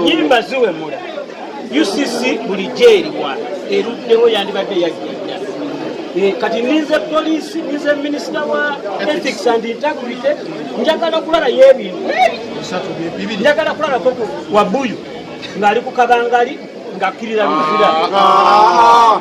nyimba ziwemula ucc bulijjo eriwa eruddewo yandibadde yagenda eh, kati ninze poliisi ninze minisita wa ethics and integrity njagala kulalayo ebintu njagala kulalako wabuyu ng'ali ku kabangali ng'akkirira luzira ah.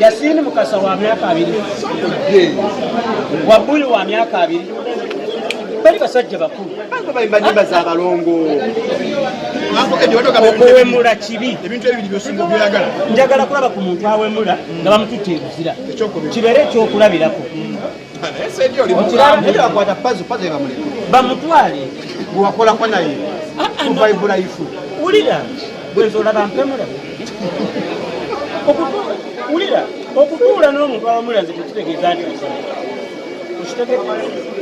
Yasini Mukasa wa myaka abiri Wabuli wa myaka abiri bali basajja bakulu okuwemula kibi njagala kulaba ku muntu awemula nga bamututte ebuzira kibeere ekyokulabirako bamutwale gwewakolako naye ah, ah, wulira wulira okutuula n'omuntu awamula nze tekitegeeza nti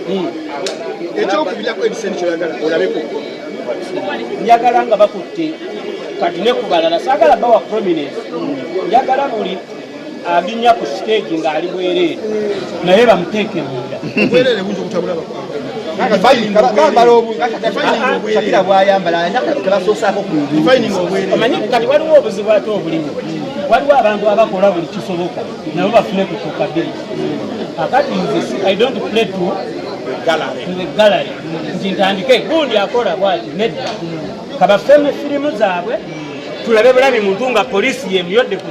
hmm. ekyokubirako ebisente kyoyagala olabeko njagala nga bakutte kati nekubalala sagala bawa prominence njagala buli alinnya ku siteegi ng'ali bwereere naye bamuteeke munda shakira bwayambala tebasosaako kumanyi kati waliwo obuzibu ate obulimu waliwo abantu abakola buli kisoboka nabo bafune kutuuka biri akati nze i don't play to gallery nti ntandike gundi akola bwati nedda kabafeme firimu zaabwe tulabe bulabi muntu nga poliisi yemuyodde ku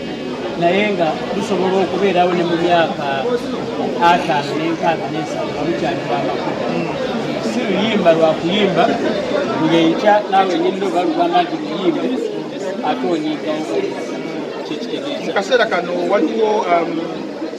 naye nga lusobola okubeerawo ne mu myaka ataano n'enkaaga n'ensatu nga lukyali lwamakulu si luyimba lwakuyimba ng'enkya naawe nyinna oba lugamba nti luyimbe ate onyigawo kyekitegeeza mu kaseera kano waliwo um,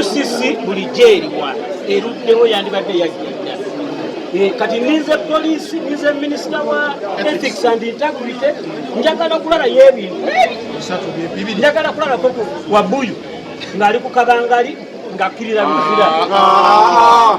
ucc bulijjo eriwa eruddewo yandibadde yagenda eh, kati ninze poliisi ninze minisita wa ethics and integrity njagala okulaba yebintu njagala kulalako wabuyu ng'ali ku kabangali ng'akkirira luzira ah, ah, ah.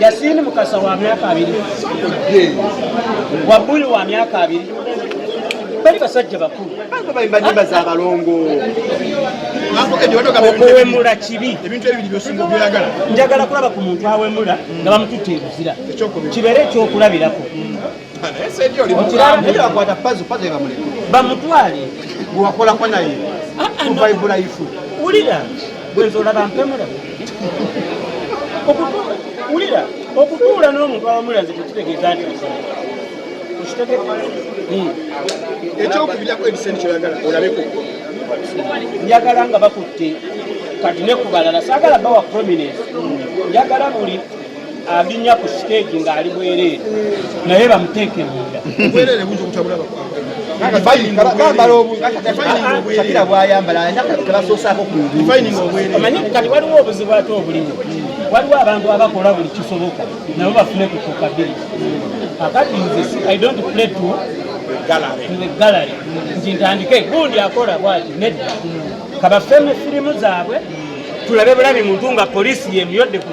Yasini Mukasa wa myaka abiri Wabuli wa myaka abiri bali basajja bakulu bayimbayimba za balongo okuwemula kibi njagala kulaba ku muntu awemula nga bamututte ebuzira kibeere ekyokulabirako bamutwale gwewakolako naye ah, ah, kuvaibulayifu wulira bwenza olaba mpemula wulira okutuula n'omuntu awamula nze tekitegeeza nti hmm. ekyokubirako ebisente kyoyagala olabeko njagala nga bakutte kati nekubalala sagala bawa prominence njagala buli abinya ku siteegi ng'ali bwereere naye bamuteeke munda shakira bwayambala tebasosaako kumanyi kati waliwo obuzibu ate obulimu waliwo abantu abakola buli kisoboka nabo bafune ku kukabiri akati nze i don't play to gallery nti ntandike gundi akola bwati nedda kabafeme firimu zaabwe tulabe bulabi muntu nga polisi yemuyodde ku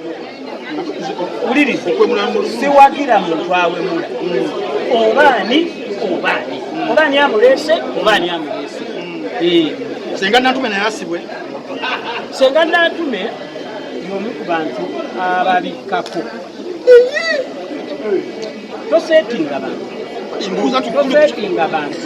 wuliriza siwagira muntu awemula oba ani oba ani oba ani amuleese oba ani amuleese senga natume naye asibwe senga natume yomu ku bantu ababikkako tosetinga bantu tosetinga bantu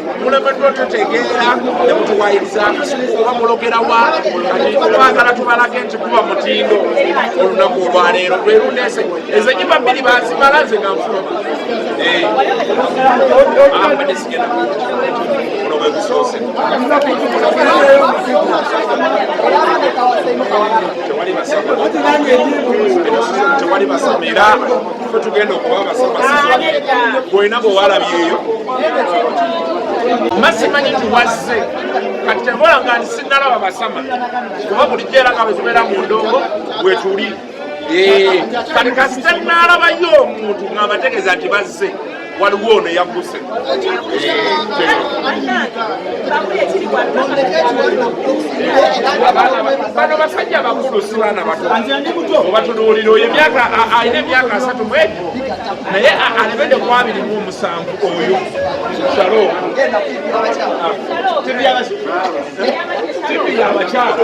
mulemeddwa otutegeera ne mutuwayiriza oba mulogerawa twagala tubalage nti kuba mutindo olunaku olwaleero lwerundese ezenyiba bbiri bazimala nze nga nfuluma eh. abadde ah, sigenda kuno bwegusoose tewali basama era ffe tugenda okuba abasabasizwa bwena bwe walabyeyo mazima nyi tuwazze kati tebola nga ndi sinnalaba basama kuba bulijjo era nga bwe tubeera mu ndongo bwe tuli kati kasita nnalabayo omuntu ng'abategeeza nti bazze waliwo ono yagguse bano basajja bakulu si baana batoobatunuulira oyo emyaka alina emyaka asatu mwegi naye alebede ku abiri mu omusanvu oyo salo tibi yabakyala